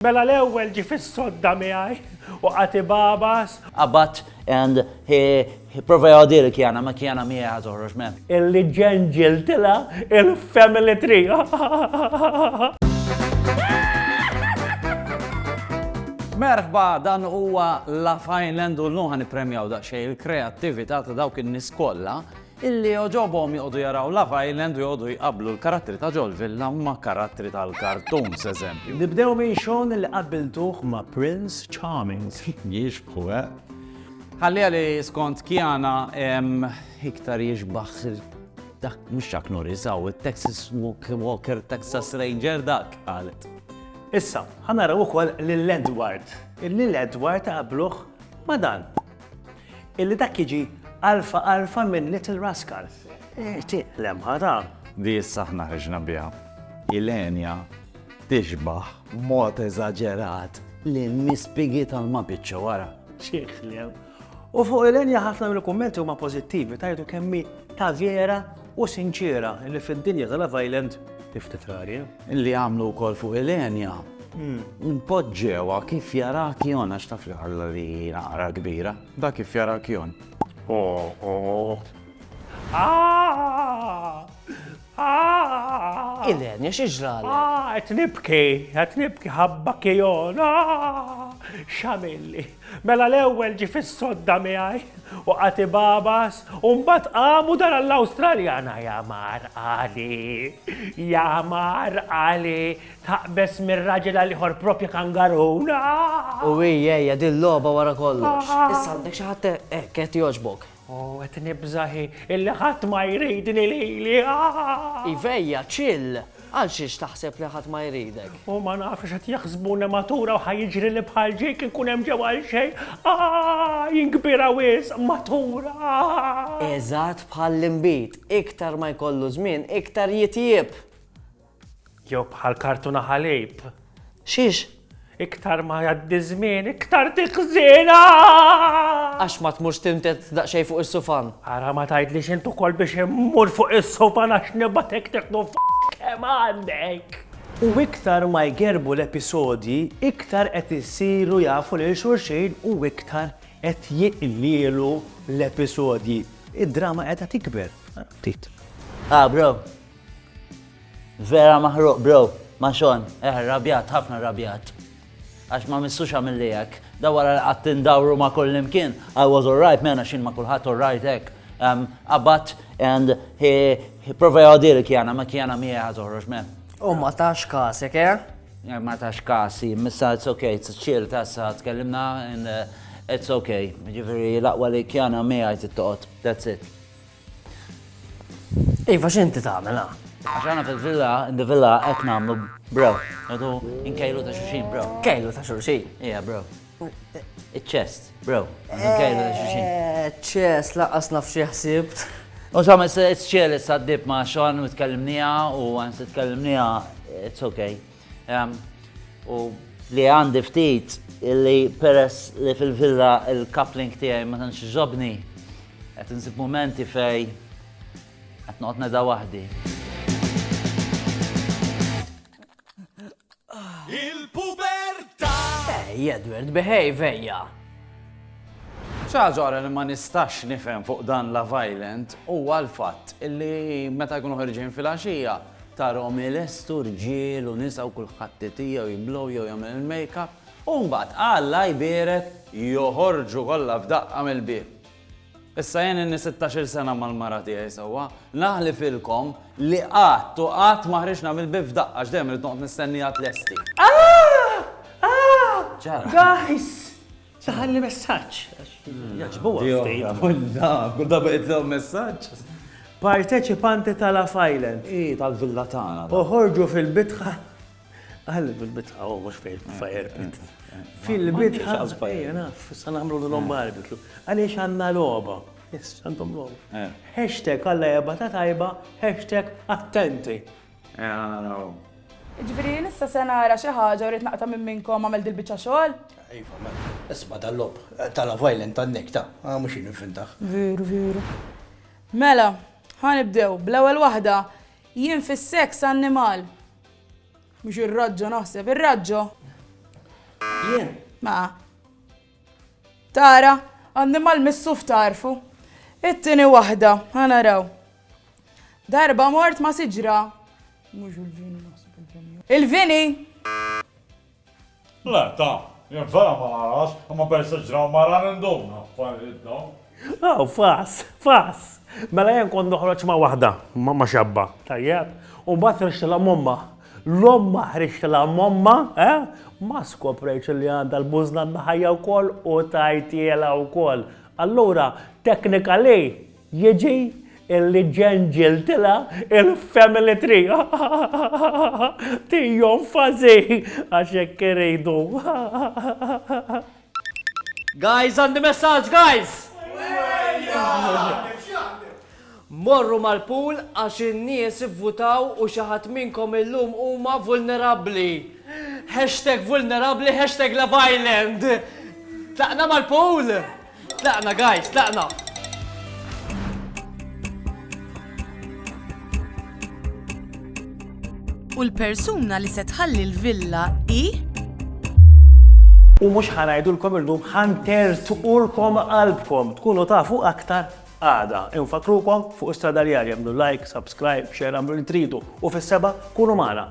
Mela l-ewwel ġie fis-sodda miegħi u qagħad ibagħbas. Qabat and he prova jgħoddili l-kjana, ma kjana miegħi ħa toħroġ m'hemm. Illi ġenġiltilha il-family tree. Merħba, dan huwa Love Island u llum ħa nippremjaw daqsxejn il-kreattività ta' dawk in-nies kollha illi jogħġobhom joqogħdu jaraw Love Island u joqogħdu jqabblu l-karattri ta' ġol villa ma' karattri tal-cartoons, eżempju. Nibdew minn Sean illi qabbiltuh ma' Prince Charming. Jixbħu, eh? Ħalliha li skont Kiana iktar jixbah dak, mhux Chuck Norris, hawn it-Texas Walker, Texas Ranger dak, qalet. Issa, ħa naraw ukoll lil Edward, illi Edward qabluh ma' dan. Illi dak jiġi alfa alfa minn Little Rascal. Tiq lemħa ta'. Di issa aħna ħriġna biha. Ilenia tixbah b'mod eżaġerat lill-mispigi tal-mapiċċo wara. Xi kliem! U fuq Ilenia ħafna mill-kummenti huma pożittivi tgħidu kemm hi ta' vera u sinċiera li fid-dinja ta' Love Island hi ftit rari. Li għamlu wkoll fuq Ilenia. Npoġġewha kif jaraha Kjon għax taf li Alla li hi naqra kbira. Dak kif jaraha Kjon. Ilenia, xi ġralek? Qed nibki, qed nibki ħabba Kjon. X'għamilli? Mela l-ewwel ġie fis-sodda miegħi u qagħad ibagħbas u mbagħad qam u dar għall-Awstraljana ja mar qali, ja mar qali, taqbeż minn raġel għal ieħor proprja kangarun, ah! U hi, hija din logħba wara kollox. Issa għandek xi ħadd hekk qed jogħġbok? O, qed nibża' hi, illi ħadd ma jridni lili, aah! Ivejja, chill! Għalxiex taħseb li ħadd ma jridek? O, ma nafx x'qed jaħsbu nematura u ħa jiġrili bħal ġieg inkun hemm ġew għalxejn, aah! Jien kbira wisq, matura, aah! Eżatt bħall-inbid, iktar ma jkollu żmien, iktar jitjieb! Jew bħal kartuna ħalib. Xiex? Iktar ma jgħaddi żmien, iktar tiħżinha! Għax ma tmurx tintet daqsxejn fuq is-sufan. Ara ma tgħidlix int ukoll biex immur fuq is-sufan għax nibgħatek tieħdu kemm għandek. U iktar ma jgerbu l-episodji, iktar qed isiru jafu lil xulxin u iktar qed jiqlielu l-episodji. Id-drama qiegħda tikber. Ftit. Ah bro, Vera maħruq bro, ma xon, eh rabjat, ħafna rabjat. Għax ma missux għamilli hekk. Da wara li qatt indawru ma kullimkien, I was alright mena xin ma kulħadd alright hekk. Abat and he, he prova jgħodir kjana, ma kjana mi għaz uħroġ me. U ma tax kasek, eh? eh? Ma tax kasi, missa it's okay, it's chill, tassa, tkellimna and uh, it's okay. Ġifiri, laqwa li kjana mi għajt it-toqot, that's it. Iva x'inti tagħmel ha? Għax għana fil-villa, in the villa qed nagħmlu bro. Għadu inkejlu ta' xulxin bro. Kejlu ta' xulxin. Ija bro. Iċ-ċest, bro. Inkejlu ta' xulxin. Eh, ċest, laqqas naf xi ħsibt. U sa' s-ċelis għaddib ma' xon u tkellimnija u għan s-tkellimnija, it's okay. U li għandi ftit li peress li fil-villa il-coupling tiegħi ma tantx ġobni, qed insib momenti fej qed noqgħod neda waħdi. Il-pubertà! Ej, Edward, behave ejja! ċaġora li ma nistax nifhem fuq dan la violent huwa l-fatt illi meta jkunu ħerġin fil-għaxija Tarahom ilestu rġiel u nisa u kulħadd itija u jiblow jew jagħmel il-makeup u mbagħad, Alla jbierek, joħorġu kollha f'daqqa mill-bieb. Issa jien inni sittax-il sena mal-mara tiegħi sewwa, naħlifilkom li qatt u qatt ma ħriġna mill-bieb f'daqqa għax dejjem irrid noqgħod nistennieha tlesti. Ahh! Ahh! X'ġara? Guys! Taħalli messaġġ. Jaġbuha ftit. Kull darba jitlgħu messaġġ. Parteċipanti ta' Love Island. I tal-villa tagħna. Uħorġu fil-bitħa. Għalli fil-bitħa, u mhux fil-fire pit. Fil-bitħa. Sa nagħmlu l-lom barbecue. Għaliex għandna logħba. Yes, għandhom logħba. Hashtag għalla jabata tajba, hashtag attenti. Ejja naraw. Jiġifieri jien issa se nara xi ħaġa u rrid naqta' minn minnkom għamel dil-biċċa xogħol? Iva, mela. Isma' dal-logħob ta' Love Island tan-Nick, ta', a mhux jien invintah. Veru, veru. Mela, ħa nibdew, bl-ewwel waħda, jien fis-seks annimal. Mhux ir-raġġo naħseb, ir-raġġo? Jien? Ma. Tara, annimal missuf tagħrfu. It-tieni waħda, ħa naraw. Darba mort ma' siġra. Mhux il-vini naħseb il-vini. Il-vini! Le, ta, jien vera ma narax, imma peress ġraw mara ninduna affarijiet dawn. Aw, fass, fass! Mela jien kont noħroġ ma' waħda, ma' xabba, tajjeb? U mbagħad ħriġtilha m'ommha. L-ommha ħriġtilha m'ommha, eh? Ma skoprejtx li għandha l-bużna mħajja wkoll u tajtielha wkoll. Allura, technically, jiġi illi ġenġiltilha il-family tree. Tijom fażi, għax hekk iridu. Guys għandi messaġġ guys! Morru mal-pool għax in-nies ivvutaw u xi ħadd minnkom illum huma vulnerabbli. Hashtag vulnerabbli hashtag Love Island. Tlaqna mal-pool! Tlaqna guys, tlaqna! U l-persuna li se tħalli l-villa hi? U mhux ħa ngħidulkom illum ħa ntertqulkom qalbkom tkunu tafu aktar għada. Infakrukom fuq Strada Rjali għamlu like, subscribe, share għamlu li tridu u fis-seba' kunu magħna.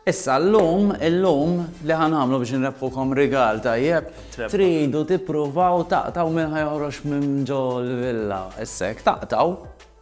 Issa llum, illum li ħan għamlu biex nrebħukom rigal tajjeb, tridu tippruvaw taqtaw minn ħajħroġ minn ġol villa. Issek taqtaw